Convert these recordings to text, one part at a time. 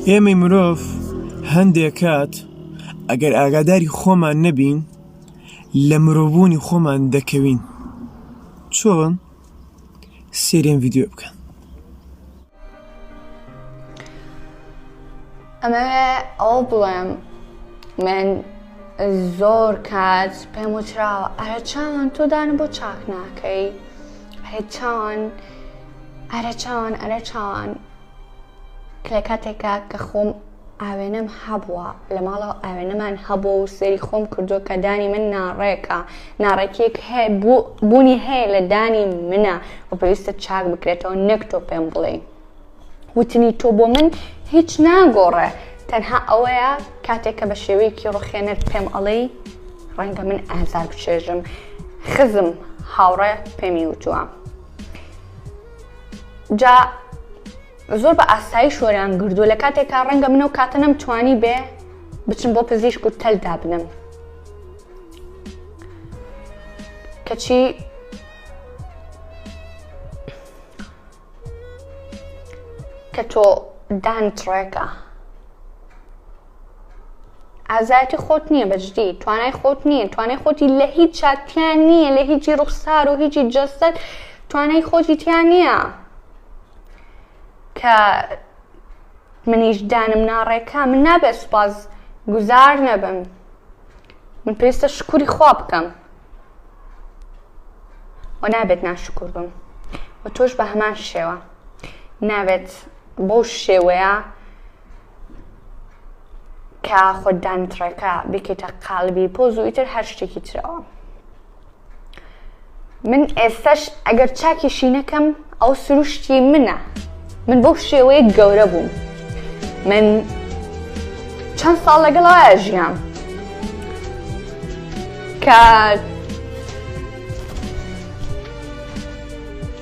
ئێمەی مرۆڤ هەندێک کات ئەگەر ئاگاداری خۆمان نەبین لە مرۆڤبوونی خۆمان دەکەوین چۆن سێرێن ڤیددیو بکەن ئەمەوێ ئەو بڵێم من زۆر کات پێم وچراوە ئەرە چاوان تۆ دانە بۆ چاک ناکەی هەیە چاوان ئەرە چاوان ئەرە چاوان لە کاتێکا کە خۆم ئاوێنەم هەبووە لە ماڵەوە ئاوێنەمان هەبوو و سێری خۆم کردو کە دانی من ناڕێکە ناڕێکیەک هەیە بوونی هەیە لە دانی منە و پێویستە چاک بکرێتەوە نەک تۆ پێم بڵێ وتنی تۆ بۆ من هیچ ناگۆڕێ تەنها ئەوەیە کاتێک کە بە شێوەیەکی ڕوخێنەر پێم ئەڵێی ڕەنگە من ئازار بچێژم خزم هاوڕێ پێمی وتووە جا زۆر بە ئاسایش وەریان گردووە لە کاتێکا ڕەنگە منە و کاتە نەم توانی بێ بچم بۆ پزیشک و تەل دابنم کەچی کە تۆ دانت ڕێکە ئازایەتی خۆت نییە بەجدی توانای خۆت نییە توانای خۆتی لە هیچ چاتیان نییە لە هیچی ڕوخسار و هیچی جەستەت توانای خۆتی تیان نییە کە منیش دانم ناڕێکە من نابێت سوپاس گوزار نەبم من پێویستە شکوری خوا بکەم و نابێت ناشکر بم و تۆش بە هەمان شێوە نابێت بەو شێوەیە کە خۆت دانتڕێکە بکەیتە قالبی پۆز و ئیتر هەر شتێکی ترەوە من ئێستش ئەگەر چاکی شینەکەم ئەو سروشتی منە من بۆ شێوەیە گەورە بووم من چەند ساڵ لەگەڵایە ژیان کە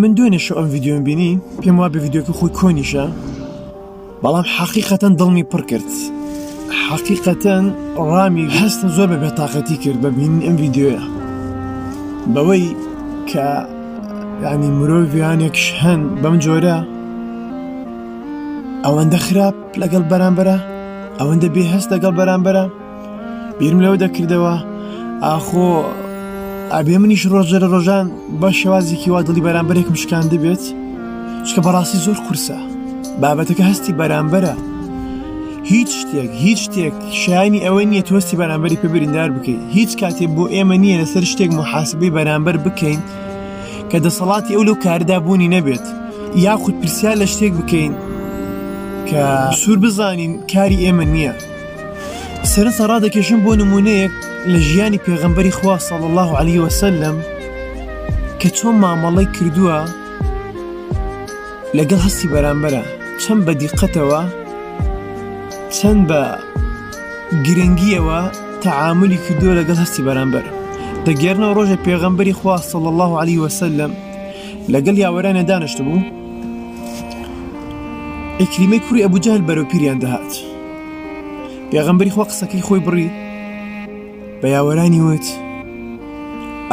من دوێنێ شو ئەم ڤیددیۆم بینی پێم وا بە ڤیددیوکە خۆی کۆنیشە بەڵام حەقیقەتەن دڵمی پڕ کرد حەقیقەتەن ڕامی هەستە زۆر بە بێتاقەتی کرد بە بین ئەم ڤیددیوە بەوەی کە ینی مرۆڤیانێکش هەن بەم جۆرە ئەوەندە خراپ لەگەڵ بەرامبەرە ئەوەندە بێ هەست لەگەڵ بەرامبەرە بیرم لەوە دەکردەوە ئاخۆ ئەبێ منیش ڕۆژە لە ڕۆژان بە شێوازێکی وا دڵی بەرامبەرێکم شکان دەبێت چکە بەڕاستی زۆر قورسە بابەتەکە هەستی بەرامبەرە هیچ شتێک هیچ شتێک شایانی ئەوە نییە تۆستی بەرامبەری پێ بریندار بکەیت هیچ کاتێ بۆ ئێمە نییە لەسەر شتێک محاسبەی بەرامبەر بکەین کە دەسەڵاتی ئەو لەو کاردا بوونی نەبێت یاخود پرسیار لە شتێک بکەین کە سوور بزانین کاری ئێمە نییە سەرنجتان ڕادەکێشم بۆ نمونەیەک لە ژیانی پێغەمبەری خوا صلی الله علیه وسلم کە چۆن مامەڵەی کردووە لەگەڵ هەستی بەرامبەرە چەند بە دیقەتەوە چەند بە گرنگیەوە تەعاملی کردووە لەگەڵ هەستی بەرامبەر دەگەرنەوە ڕۆژە پێغەمبەری خوا صلی الله علیه وسلم لەگەڵ یاوەرانە دانیشت بوو ئیکریمەی کوری ئەبوو جەهل بەرەو پیریان دەهات پێغەمبەری خوا قسەکەی خۆی بڕی بە یاوەرانی وت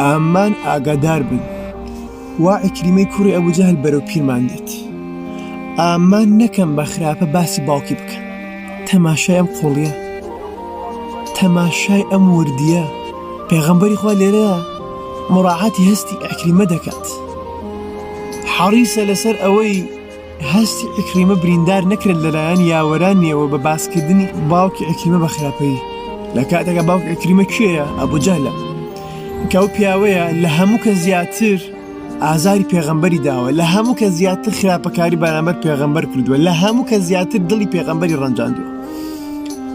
ئامان ئاگادار بن وا ئەکریمەی کوڕی ئەبوو جەهل بەرەو پیرمان دێت ئامان نەکەم بە خراپە باسی باوکی بکەن تەماشای ئەم قۆڵیە تەماشای ئەم وردیە پێغەمبەری خوا لێرە مڕاعاتی هەستی ئەکریمە دەکات حەڕیسە لەسەر ئەوەی هەستی عیکریمە بریندار نەکرێت لەلایەن یاوەرانیەوە بە باسکردنی باوکی عیکریمە بە خراپەیی لە کاتێکە باوک عیکریمە کێیە ئەبوو جەهلە کە ئەو پیاوەیە لە هەموو کە زیاتر ئازاری پێغەمبەری داوە لە هەموو کە زیاتر خراپەکاری بەرامبەر پێغەمبەر کردووە لە هەموو کە زیاتر دڵی پێغەمبەری ڕەنجاندووە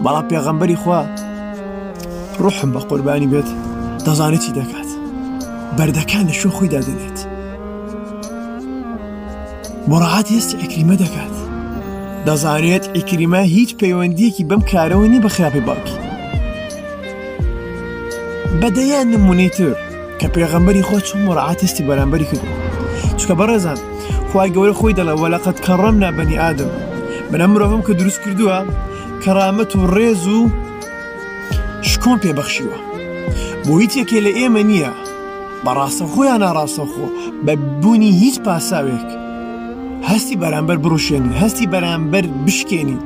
بەڵا پێغەمبەری خوا ڕحم بە قوربانی بێت دەزانێت چی دەکات بەردەکان لە شو خۆی دادێنێت مراعات هێستی عیکریمە دەکات دەزانێت عیکریمە هیچ پەیوەندیەکی بەم کارەوە نیە بە خراپەی باوکی بەدەیان نمونەی تر کە پێغەمبەری خۆ چون مراعات هێستی بەرامبەری کرد چکە بەڕێزان خوای گەورە خۆی دەڵێ وەلقد کەڕەمنا بەنی ئادەم من ئەم مرۆڤم کە دروست کردووە کەڕامەت و ڕێز و شکۆم پێبەخشیوە بۆ هیچ یەکێ لە ئێمە نییە بە ڕاستەوخۆ یان ناڕاستەوخۆ بە بوونی هیچ پاساوێک هەستی بەرامبەر بڕوشێنین هەستی بەرامبەر بشکێنین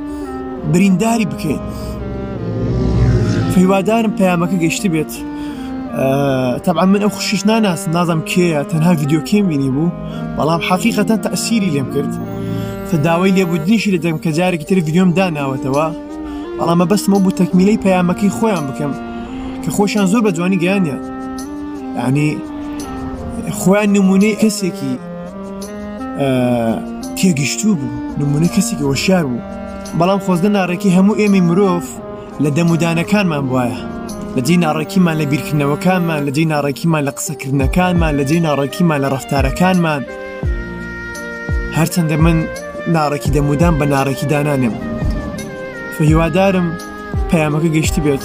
برینداری بکەین هیوادارم پەیامەکە گەشت بێت تەبا من ئەو خوشیش ناناس نازم کێە تەنها یددیوکەیم بینی بوو بەڵام حەقیقەتە تەسیری لێم کرد فداوای لێبوودنیشی لە دەم کە جارێکی تر یددیۆم داناوەتەوە بەڵامە بەسمە بوو تەکمیلەی پەیامەکەی خۆیان بکەم کە خۆشیان زۆر بە جوانی گەیانە یانی خۆیان نمونەی کەسێکی تێگەشتوو بوو نمونە کەسێکی وەشار بوو بەڵام خۆزگە ناڕێکی هەموو ئێمەی مرۆڤ لە دەمودانەکانمان وایە لە جێ ناڕێکیمان لە بیرکردنەوەکانمان لە جێ ناڕێکیمان لە قسەکردنەکانمان لە جێ ناڕێکیمان لە ڕفتارەکانمان هەرچەندە من ناڕێکی دەمودان بە ناڕێکی دانانێم هیوادارم پەیامەکە گەشتی بێت